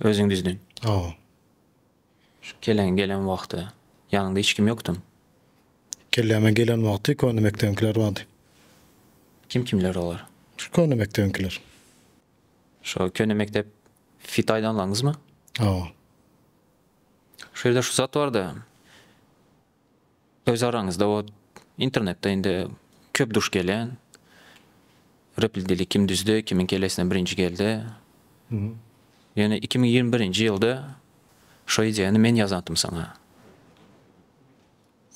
Özüň düzdün. Hawa. Şu keleň gelen wagty ýanyňda hiç kim ýokdumy? Kelläme gelen wagty köne mekdebiňkiler bardy. Kim kimler olar? Şu köne mekdebiňkiler. Şo köne mekdep fit aýdanlaňyzmy? Hawa. Şu ýerde şu zat barda. Öz araňyzda bot internetde indi köp duş gelýän replidili kim düzdi kimiň kellesine birinji geldi ýöne iki müň ýigrimi birinji ýylda şo ideýany men ýazantym saňa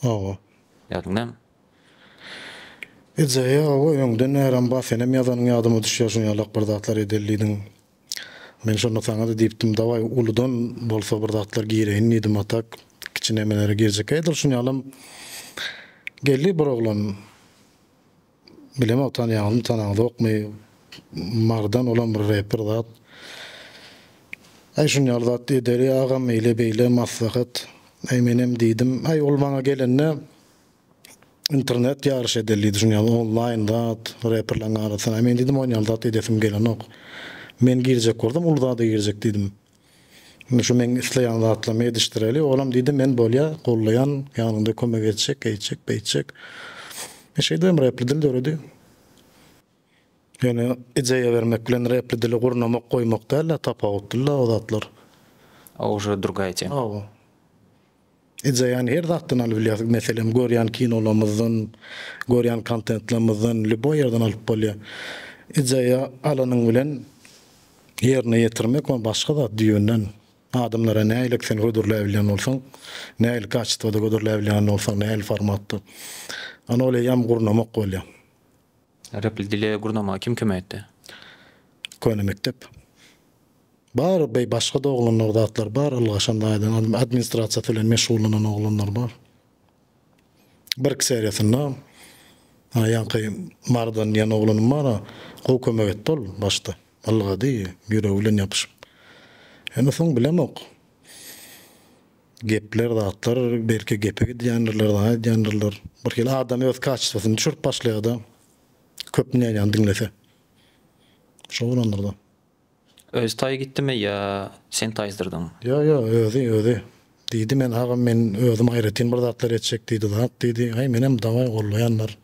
Hawa. ýadyňdamy? Ideýa hawa öňden näram bar senem ýazanyň ýadyma düşýär şuňalak bir zatlar edelidiň Men şonda saňa-da diýipdim, dawaý, uludan bolsa bir zatlar gireýin diýdim, a tak kiçi nemelere girjek edil. Şuny ýalam geldi bir oglan. Bilemok, tanýaňyzmy, tanaňyzokmy, Mardan, olam bir reper zat. Aý, şuny ýaly zat edeli, agam, eýle-beýle, maslahat. Aý, menem diýdim. Aý, ol maňa gelende, Internet ýaryş edeli düşünýäňmi onlaýn zat reperleriň arasynda men diýdim onýal zat edesim gelenok men girjek bolsam uly zada girjek diýdim şu meň isleýän zatlarymy edişdireli olam diýdi men bolýa gollaýan ýanyňda kömek etjek eýtjek beýtjek men şeýdibem repli dil döredi ýöne ideýa bermek bilen repli dili gurnamak goýmak dälde tapawutdyla o zatlar. Ow şu durgaýçy. Ow. Eje ýany her zatdan alyp bilýäs. Meselem, görýän kinolarymyzdan, görýän kontentlerimizden, lýuboý ýerden alyp bolýar. Ejeýi alanyň bilen ýerine ýetirmek, ony başga zat düýbünden adamlara nähili sen hödürläp bilýän bolsaň, nähili kaçestwada hödürläp bilýän bolsaň, nähili formatda, ony ol eýýäm gurnamak bolýar. Repli dile gurnamaga kim kömek etdi? Köne mekdep. Bar beý başga da oglanlar zatlar bar ylgaşan taýdan administrasiýasy bilen meşgullanan oglanlar bar. Birki seriýasynda ha ýaňky Marydan diýen oglanym bar gowy kömek etdi ol başda ylgady ýüregi bilen ýapyşyp. Indi soň bilemok. Gepler zatlar belki gepe gidýändirler zat edýändirler. Bir hili adam öz kaçestwsyny düşürip başlaýarda köp nýanýany diňlese. Şo bolandyrda. Özi taý gitdimi ýa sen taýsdyrdyň? Ýo ýo özi özi. Diýdi men agam men özüm aýratyn bir zatlar etjek diýdi zat diýdi. Aý menem dawaý gollaýanlar.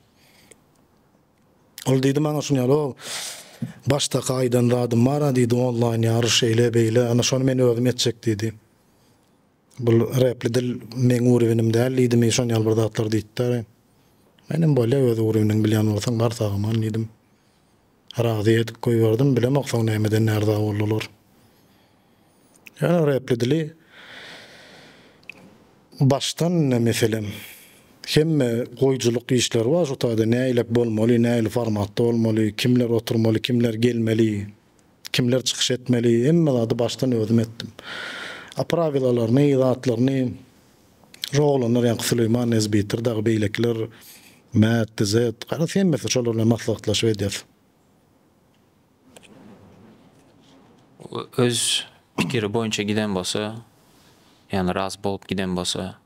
Ol diýdi maňa şuny ýaly og başdaka aýdan zadym bara diýdi onlaýn ýaryş şeýle beýle ana şony men özüm etjek diýdi. Bul repli dil meň urewinm däl diýdimi şon ýaly bir zatlar diýtdä. Menem bolýa öz urewiniň bilýän bolsaň bar sag aman diýdim. Razy edip goýberdim bilemok soň nämeden närdä boldular. Ýöne repli dili başdan ine meselem hemme goýjylyk işleri bar şu taýda näiläp bolmaly näili formatda bolmaly kimler oturmaly kimler gelmeli. Kimler çykyş etmeli? Hemme zady başdan özüm etdim. A prawilalaryny, zatlaryny şu oglanlar ýaňky Süleýman Nezbitir dagy beýlekiler Mät, Dizet, garaz hemmesi şolar bilen maslahatlaşyp edýäs. Öz pikiri boýunça giden bolsa, ýagny razy bolup giden bolsa,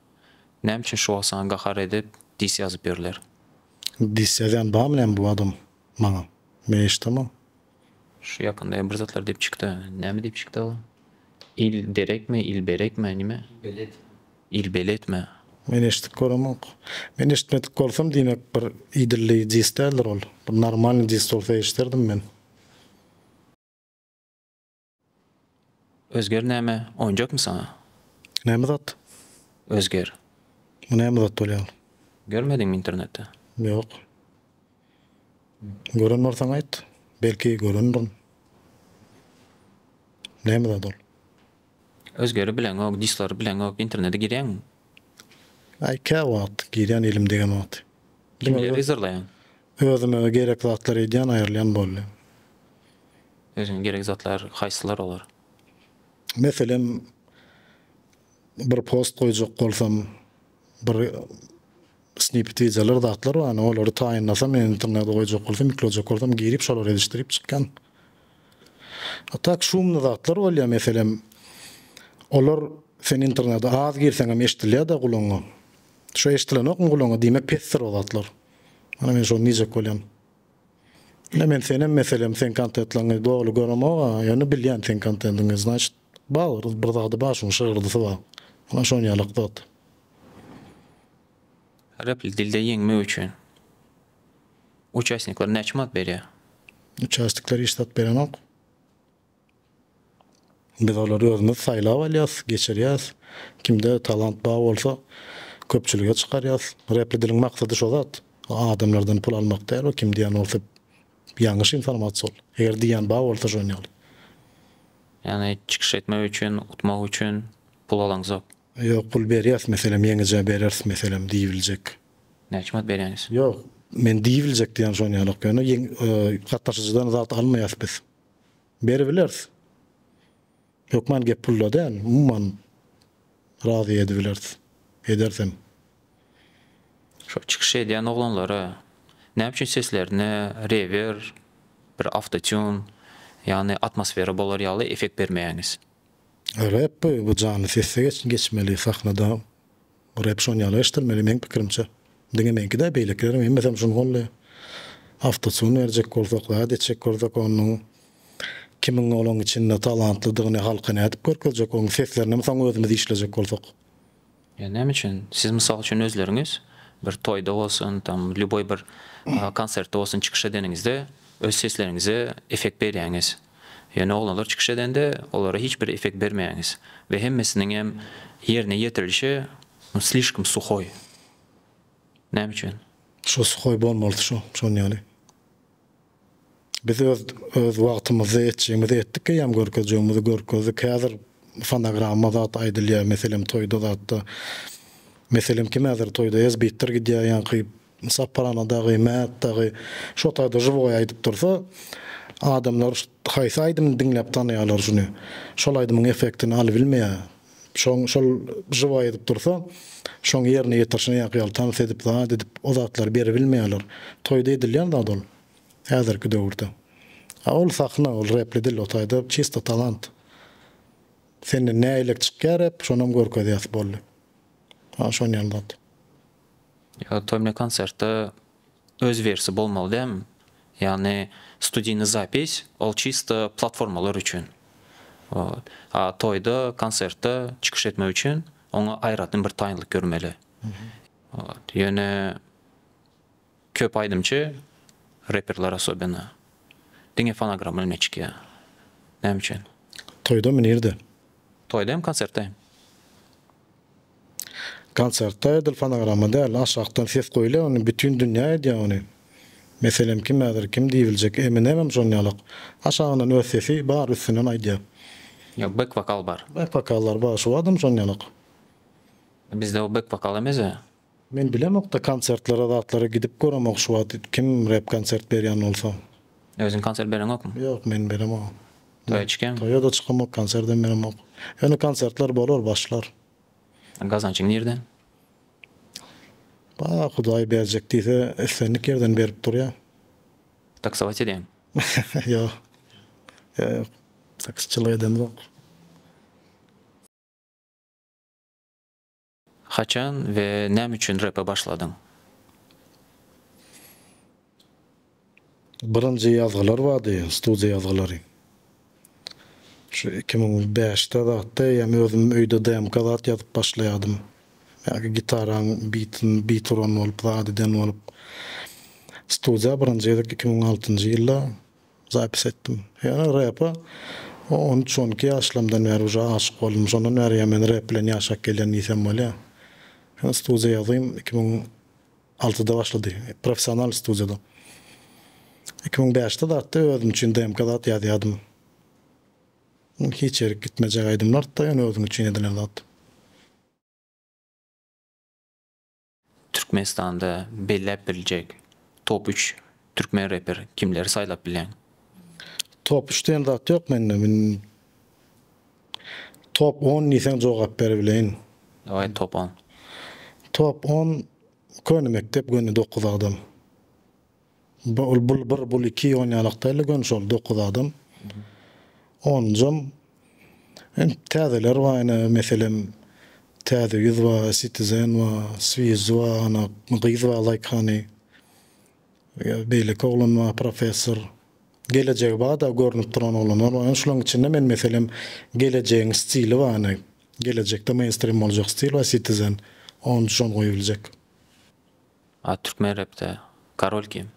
näme üçin şu wagt saňa gahar edip dis ýazyp ýörler? Dis ýazýan barmy näme bu adam maňa? Men eşidemok. Şu ýakynda ýa bir zatlar diýip çykda. Näme diýip çykda ol? Il derekmi, il berekmi, nime? Belet. Il beletmi? Men eşitip göremok. Men eşitmedik bolsam diýmek bir idilli dis däldir ol. Bir normalny dis bolsa eşiderdim men. Özger näme, oýunjakmy saňa? Näme zat? Özger. Bu näme zat bolýar? Görmediňmi internetde? Ýok. Gören bolsaň aýt. Belki görendirin. Näme zat ol? Özgeri bileňok, dislary bileňok, internete girýäňmi? Aý käwagt girýän elim degen wagty. Kimleri yzarlaýaň? Özüme gerek zatlar edýän aýrylýan boldy. Özüňe gerek zatlar haýsylar olar? Meselem bir post goýjak bolsam bir snipet wideolar zatlar bar olary taýynlasam men internete goýjak bolsam ýüklejek bolsam girip şolary edişdirip çykýan. A tak şumly zatlar bolýar meselem olar sen internete az girseňem eşdilýada gulagyňa. Şo eşdilenokmy gulagyňa diýmek pesdir o zatlar. Ana men şony diýjek bolýan. Ine men senem meselem seň kontetlaňy doly göremog-a, ýöne bilýän seň kontendiňi, znaçit bar bir zady bar şuň şygyrdysy bar. Ana şon ýalak zat. Repli dilde ýeňmek üçin uçastnikler näçe manat berýär? Uçastnikler hiç zat berenok. Biz olary özümiz saýlap alýas, geçirýäs. Kimde talant bar bolsa köpçülige çykarýas. Repli diliň maksady şo zat. Adamlardan pul almak däl o kim diýen bolsa ýalňyş informasiýa ol. Eger diýýän bar bolsa şony ýaly. Ýagny çykyş etmek üçin, utmak üçin pul alaňzok. Ýok pul berýäs meselem ýeňijä bereris meselem diýibiljek. Näçe manat berýäňiz? Ýok men diýibiljek diýýän şony ýalak ýöne ýeň gatnaşyjydan zat almaýas biz. beribileris. Hökman gep pulda däl, umuman razy edibileris, edersem. Şo çykyş edýän oglanlara näme üçin seslerine rewer, bir awtotune, ýagny atmosfera bolar ýaly effekt bermeýäňiz? Rep bu jany sesde geçmeli sahnada Bu rep şon ýaly eşdilmeli meň pikirimçe. Diňe meňkidä beýlekileriň hemmesem şun golly. Awtotune berjek bolsak zat etjek bolsak onnuň kimiň olaň içinde talantlydygyny halka nädip görkezjek oň seslerinem soň özümiz işlejek bolsak. Ýa näme üçin siz mysal üçin özleriňiz bir toýda bolsun tam lýuboý bir konsertde bolsun çykyş edeniňizde öz sesleriňize effekt berýäňiz. Ýöne oglanlar çykyş edende olara hiç bir effekt bermäňiz we hemmesiniňem ýerine ýetirilişi nu slişkom suhoý. Näme üçin? Şo suhoý bolmalydy şo, şon ýaly. Biz öz öz wagtymyzda etjegimizi etdik eýýäm görkezjegimizi görkezdik. Häzir fonogramma zat aýdylýar meselem toýda zatda. Meselem kim häzir toýda ezbitdir gidýär ýaňky Mysap Palana dagy, Mät dagy şo taýda žiwoý aýdyp dursa, adamlar haýsy aýdymyny diňläp tanaýarlar şuny? Şol aýdymyň effektini alybilmeýär. Şoň şol žiwoý edip dursa, şoň ýerine ýetirişine ýaňky ýaly tans edip, zat edip, o zatlary beribilmeýärler. Toýda edilýän zat ol, häzirki döwürde. A ol sahna, ol repli dil, o taýda çisto talant. Senden nägilek çykýar rep, şonam görkezýäs boldy. Ha şon ýaly zat. Ýa toýna konsertde öz wersi bolmaly dämi? Ýagny studyny zapis ol çysto platformalar üçin. Wot. A toýda, konsertde çykyş etmek üçin oňa aýratyn bir taýynlyk görmeli. Wot. Ýöne köp aýdymçy, reperler asobena diňe fonogramma bilen çykýar. Näme üçin? Toýda mü nirde? Toýda hem konsertde hem. Konsertde edil fonogramma däl aşakdan ses goýulýar ony bütin dünýä edýär ony. Meselem kim häzir kim diýibiljek Eminemem şon ýalak aşagyndan öz sesi bar üstünden aýdýar. Ýok bek wokal bar. Bek wokallar bar şu adam şon ýalak. Bizde o bek wokal emese. Men bilemokda konsertlere zatlara gidip göremok şu wagt kim rep konsert berýän bolsa. Özüň konsert bereňokmy? Ýok men beremok. Toýa çykýaňmy? Toýada çykamok konserdem beremok. Ýöne konsertler bolar başlar. Gazançyň nirden? Ba hudaý berjek diýse islendik ýerden berip durýa. Taksować edýäňmi? Ýok. Ýok. Taksiçilik edemzok. Haçan we näme üçin repe başladyň? Birinji ýazgylar bardy, studiýa ýazgylary. Şu iki müň bäşde zatdy, ýa-ni özüm öýde demka zat ýazyp başlaýardym. Ýa-ki gitaraň bitini, bit uran bolup, zat eden bolup. Studiýa birinji gezek iki müň altynjy ýylda Zapis etdim. Ýöne repa on üç on iki ýaşlarymdan bäri uje aşyk boldum. Şondan bäri ýa men rep bilen ýaşap gelýän diýsem bolýar. Ýöne studiýa ýazym iki müň altyda başlady. Professional studiýada. Iki müň bäşde zatda özüm üçin demka zat ýazýardym. Ol hiç ýerik gitmejek aýdymlardy-da, ýöne özüň üçin edilen zat. Türkmenistanda belläp biljek top üç türkmen reper kimleri saýlap bileň? Top üç diýen zat ýok mende men top on diýseň jogap berebileýin. Daway top on. Top on köne mekdep göni dokuz adam. Bu ol bul bir bul iki ýonýalak däldi göni şol dokuz adam. Onunjam hem täzeler bar ene meselem täze ýüz bar sitizen bar swiz bar ana gyz bar zaýkany beýleki oglan bar professor gelejegi barda görnüp duran oglanlar bar ene şulaň içinde men meselem gelejegiň stili bar ene gelejekde meýnstrim boljak stil bar sitizen onunjy şony goýup biljek. A türkmen repde karol kim?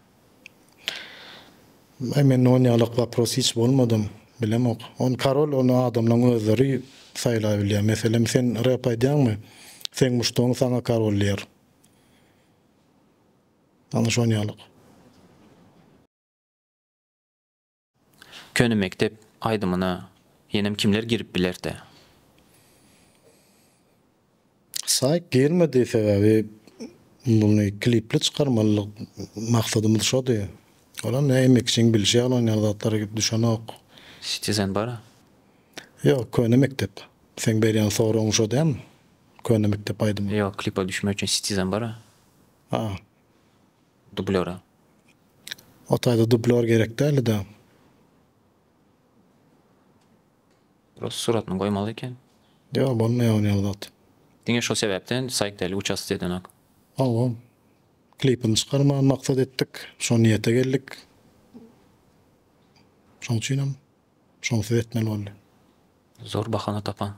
Aý mende on ýalak wapros hiç bolmadam, bilemok. Ony karol ony adamlaň özleri saýlaýbilýär. Meselem sen rep aýdýaňmy? Seň muşdagyň saňa karol diýer. Ana şonýalak. Köne mekdep aýdymyna ýenem kimler girip bilertä? Saýk girmedi sebäbi muny klipli çykarmaly maksadymyz şody. Olam ne emekçiň bilşi ýaly oýnan zatlary gidip düşenok. Citizen bara. Ýok köne mekdep. Seň berýän soragyň şo dämi? Köne mekdep aýdymy. Ýok klipa düşmek üçin citizen bara. A. dublýora. O taýda dublýor gerek dälida. Prosta suratyny goýmaly eken. Ýok bolmaýar ony ýaly zat. Diňe şol sebäpden saýkdelik uçasty edenok. Hawa. Klipini çykarmagy maksat etdik. Şo niýete geldik. Şoň üçinem. Şonsuz etmeli boldy. Zor bahana tapaň.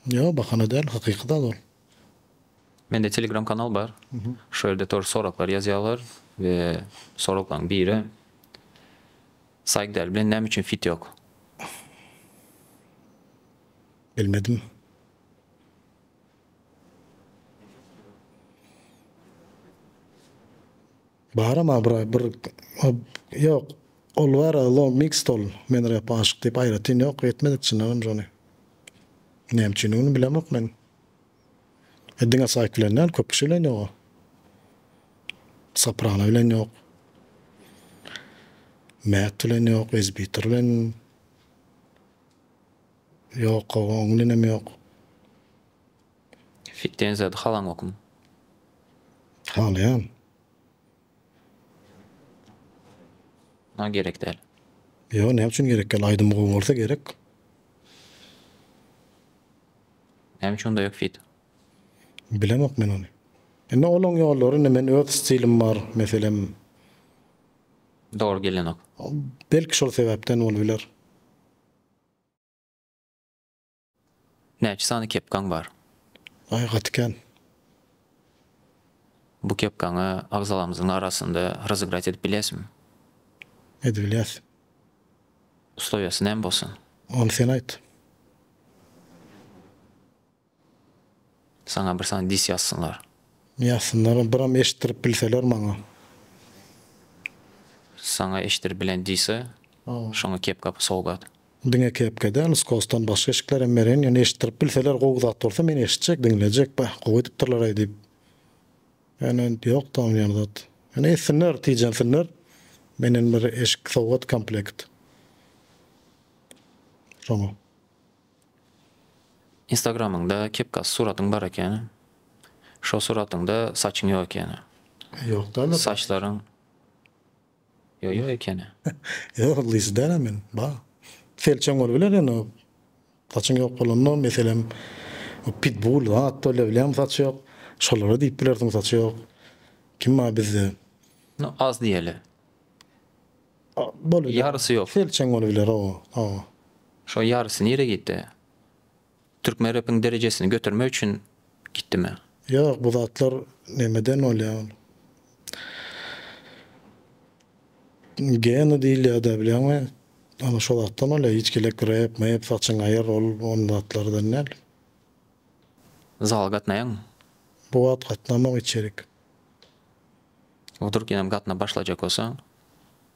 Ýok bahana däl hakyky zat ol. Mende telegram kanal bar. Şo ýerde tor soraklary ýazýarlar we soraklaň biri Saigdel bilen näme üçin fit ýok? Bilmedim. Baram abraý bir ýok ol bara low mixed ol men rep aşyk diýip aýratyn ýok etmedik çyndanam biz ony näme üçindigini bilemok men e diňe saýk bilen däl köp kişi bilen ýoga soprano bilen ýok mät bilen ýok ezbitor bilen ýok oň bilenem ýok. Fit diýen zady halaňokmy? Halaýan. Maňa gerek däl. Ýo, näme üçin gerek däl? Aýdymy gowy bolsa gerek. Näme üçin onda ýok fit? Bilemok men ony. Indi olaň ýollary indi men öz stilim bar meselem. Dogry gelenok. Belki şol sebäpden bolup biler. Näçe sany kepkaň bar? Aý gaty kän. Bu kepkaňy agzalarymyzyň arasynda rozygrat edip bilýäsmi? Edibilýäs. Uslowiýasy näme bolsun? Ony sen aýt. Saňa bir sany dis ýazsynlar. Ýazsynlar, biram eşitdirip bilseler maňa. Saňa eşitdirip bilen dise, şoňa kepka sowgat. Diňe kepke däl, skosdan başga eşiklerem meren, ýöne eşitdirip bilseler gowy zat bolsa men eşitjek, diňlejek, bäh, gowy edipdirler-aý diýip. Ýöne ýok-da onuň ýaly zat. Ýöne etsinler, tijensinler. Menden bir eşik sowgat komplekt. Şoňa. Instagramyňda kepkasy suratyň bar eken. Şo suratyňda saçyň ýok ekeni. Ýok däl-de. Saçlaryň. Ýoýo ekeni. Ýok yzlyjy dälä men. Ba. Selçeň bolubiler ýöne saçyň ýok bolanda meselem pitbul zat bolýa bilýämi saçy ýok. Şolara diýip bilersiň saçy ýok. Kim bar bizde. No az diýeli. Bolubiler. Ýarysy ýok. Selçeň bolubiler oba. Oba. Şo ýarysy nire gitdi? Türkmen repiň derejesini götermek üçin gitdimi? Ýok bu zatlar nemeden bolýa ol geny diýilýada bilýäňmi ana şo zatdan bolýa hiç gelek rep mep saçyň aýyr ol on zatlardan däl. Zala gatnaýaňmy? Bu wagt gatnamok içerik. Wdruk ýenem gatnap başlajak bolsa.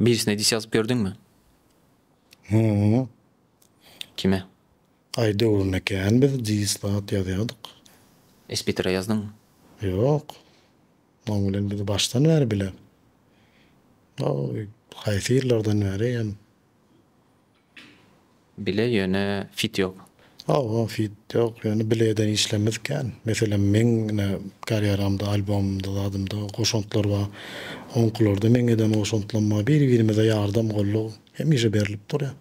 Birisine dis ýazyp gördüňmi? Hü-ü. Kime? Aý döwründe kän biz dis zat ýazýardyk. Espitre ýazdyňmy? Ýok. Oň bilen biz başdan bäri bile. Haýsy ýyllardan bäri hem Bile ýöne fit ýok. Hawa fit ýok ýöne bilede işlemedik kän. Meselem meň ine karýeramda albomymda zadymda goşantlar bar. Oňkylarda meň eden goşantlarym bar. Biri birimize ýardam goldaw hemişe berlip durýar.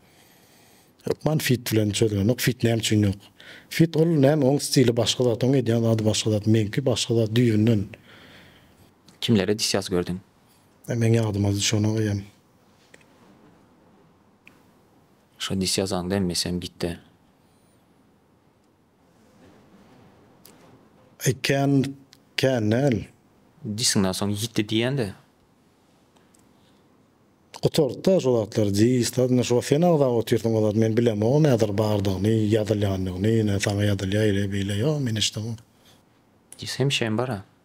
Hökman fit bilen çözgenok. Fit näme üçin ýok. Fit ol näme oň stili başga zat oň edýän zady başga zat meňki başga zat düýbünden. Kimlere disýaz gördüň? Meň ýadyma düşen ol eýýäm. Şo dis ýazaňda emmesem gitdi. Aý kän kän däl. Disiňden soň ýitdi diýende. Gutartda şu zatlar dis da indi şu wagt sen agzap otyrsyň o zat men bilemogum häzir bardygyny ýazylýanyny ine saňa ýazylýa eýle beýle ýok men eşdemok. Dis hemişem bara.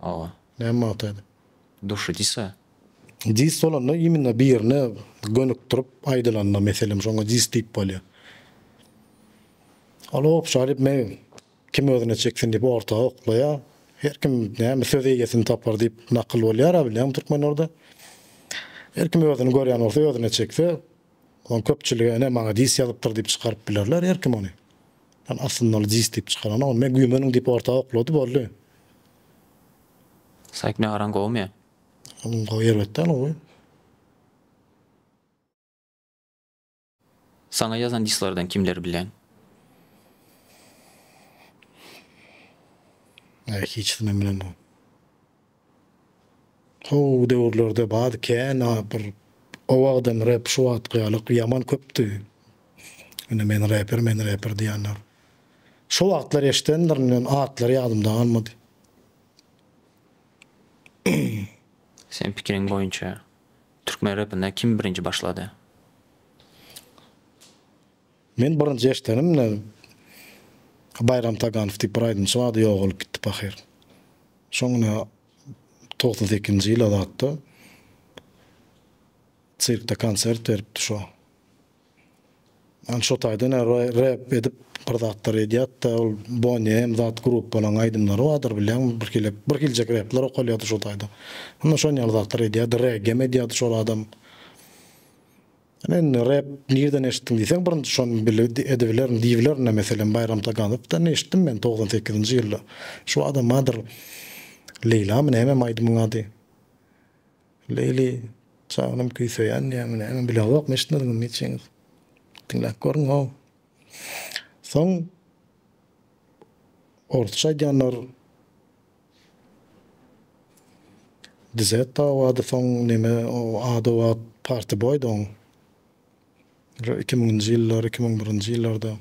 Aga. Näme magtaýdy? Duşy disa. Dis bolanda imенно birine gönükdirip aýdylanda meselem şoňa dis diýip bolýar. Ol obşa diýip me kim özüne çeksin diýip orta oklaýar. Her kim näme söz eýesini tapar diýip nakyl bolýar-a bilýäňmi türkmenlerde. Her kim özüni görýän bolsa özüne çekse Ol köpçülige ene maňa dis ýazypdyr diýip çykaryp bilerler her kim ony. Ýöne aslynda ol dis diýip çykaranok ony men güýmeniň diýip orta oklady boldy. Saýk nagaraň gowumy? Onuň gowy erbet däl gowy. Saňa ýazan dislardan kimleri bileň? Näme hiç kimi bilenok. Soňky döwürlerde baz kän a bir o wagtdan rep şu wagtky ýalyk ýaman köpdi. Ine men reper men reper diýenler. Şo wagtlar eşdendirimden atlary ýadymda galmady. Seň pikiriň boýunça türkmen repine kim birinji başlady? Men birinji eşdenimde Baýram Taganow diýip bir aýdymçy bardy ýogalyp gitdi pahyr. Şoň ine togsan sekizinji ýyla zatda sirkde konsert beripdi şo. Ýani şo taýdan rep edip bir zatlar edýatda ol Bonnie M zat gruppanyň aýdymlary bardyr bilýäňmi bir hili bir hiljek repler okalýady şo taýda. Ine şon ýaly zatlar edýärdi regem edýärdi şol adam. Ine indi rep nirden eşitdiň diýseň birinji şony bile edibilerin diýibilerin-dä meselem Baýram Taganovdan eşitdim men togsan sekizinji ýylda şu adamadyr Leýlamy nämemi aýdymyň ady Leýli janym küý söýän diýýäňmi näme bileogok eşitmediňizmi hiç heniz diňläp görüň how soň orsça aýdýanlar. Dzed dawady soň neme o ada wagt party boy da oň. Re iki müňünji ýyllar, iki müň birinji ýyllarda.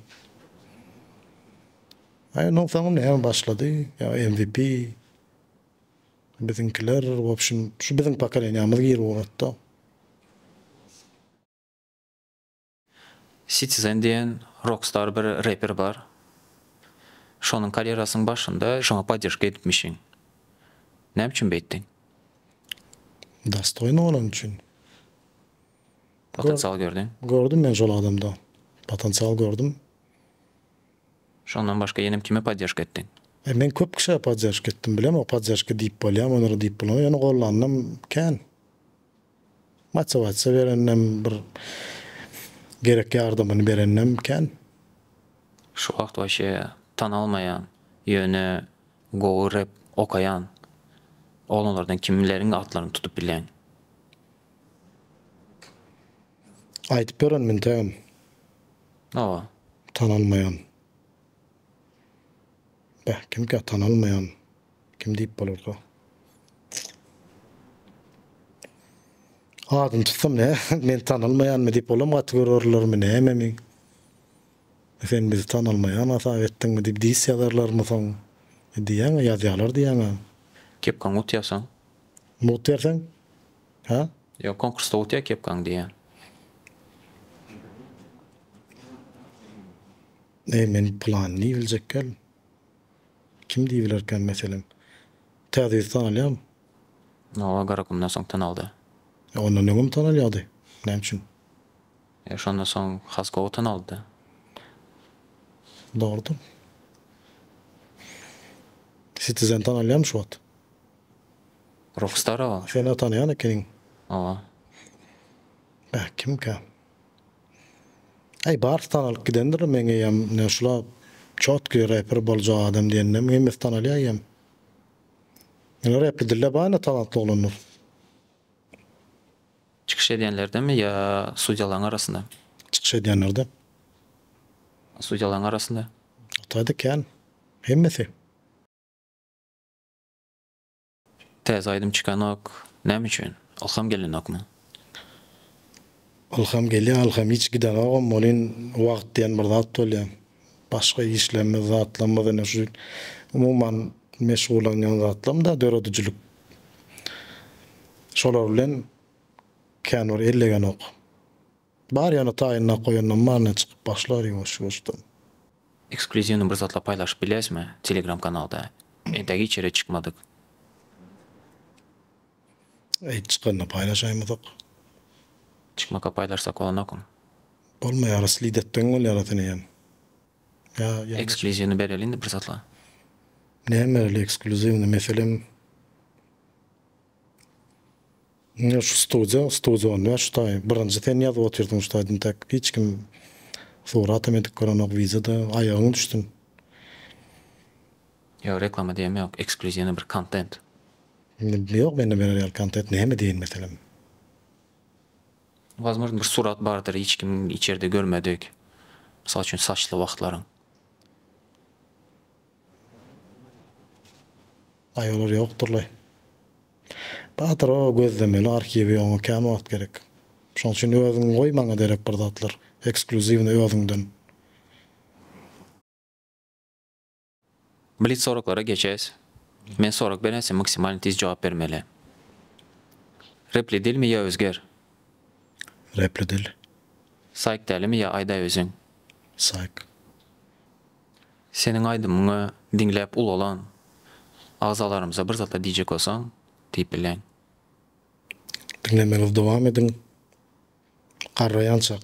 Aý onuň soňy näme başlady ýa MVP. Biziňkiler wobşem şu biziň pokoleniýamyz gir ugrady da. Citizen diýen rokstar bir reper bar. Şonuň karýerasynyň başynda şoňa podderžka edipmişiň. Näme üçin beýtdiň? Dostoýny bolany üçin. Potensial gördüň? Gördüm men şol adamda. Potensial gördüm. Şondan başga ýenem kime podderžka etdiň? E, men köp kişä podderžka etdim. Bilemok podderžka diýip bolýamy, ony diýip bolanok. Ýöne gollananam kän. Motywasiýa berenem, bir gerek ýardamyny berenem kän. Şu wagt waşe tanalmaýan ýöne gowy rep okaýan oglanlardan kimleriň atlaryny tutup bilýäň? Aýdyp berenim entegem. Hawa. Tanalmaýan. Beh kimkä tanalmaýan. Kim diýip bolarka? Adyny tutsam ne? Men tanalmaýanmy diýip olam gaty görerlermi näme men? Sen bizi tanalmaýan hasap etdiňmi diýip dis ýazarlarmy soň? E diýýäň-ä, ýazýalar diýýäň-ä. Kepkaň ut ýazsaň? Mut berseň? Hä? Ýok, konkursda utýa kepkaň diýýän. Eý, men planyny biljekgel. Kim diýip bilerkäm, meselem? Täze ýüz tanalýarmy? Hawa, Garagumdan soň tanaldy. E, ondan öňem tanalýardy. Näme üçin? E, şondan soň has gowy tanaldy-da. Dogrudyr. Sitizeni tanalýarmy şu wagt? Ruhstarow? Sen-ä tanaýan ekeniň. Hawa. Bäh, kimkä? Äý bars tanalyp gidendir meň eýem ne şula çotky reper boljak adam diýende hemmesi tanalýa eýem. Ýöne repli dilde bar indi talantly oglanlar. Çykyş edýänlerdemi ýa sudýalaň arasynda? Çykyş edýänlerde. A sudýalaň arasynda? Otady kän. Hemmesi. Täze aýdym çykanok näme üçin ylham gelenokmy. Ylham gelýä ylham hiç gidenogam welin wagt diýen bir zat bolýa başga işlerimiz zatlarymyz ine şu umuman meşgullanýan zatlarymda döredijilik şolar bilen kän bir ellegenok. Bar ýaly taýynlap goýandam bar ine çykyp başlar ýumuş ýursdan. Eksklýuziwny bir zatlar paýlaşyp bilerismi telegram kanalda e dagi içerik çykmadyk. Eýt çykanda paýlaşaýmasak. Çykmaka paýlaşsak bolanokum. Bolmaýara slid etdigiň bolýara seni ýan ýa ýa. Eksklýuziwny bereli indi bir zatlar. Näme bereli eksklýuziwny meselem. Ine şu studiýa, studiýa on bäş daýy. Birinji sen ýazyp otyrdyň şu taýdan täk. Hiç kim suratam edip görenok, wideoda aýagyň düşsün. Ýok reklama diýem ýok eksklýuziwnyý bir kontent. Ýok mende berer ýaly kontent näme diýen meselem. Wazmozn bir surat bardyr hiç kim içerde görmedik. Mysal üçin saçly wagtlaryň. Aý olar ýokdurlaý. Batyr o gözlemeli arhiwi oňa kän wagt gerek. Şoň üçin özüň goý maňa derek bir zatlar, ekskluziwny özüňden. Blitz soraklara geçes. Men sorak berense maksimalny tiz jogap bermeli. Repli dilmi ýa özger? Repli dil. Saýk dälimi ýa aýdaý özüň? Saýk. Seniň aýdymyňy diňläp ulalan agzalarymyza bir zat-a diýjek bolsaň, diýip bilän. Diňlemäňizi dowam ediň. Garraýançak.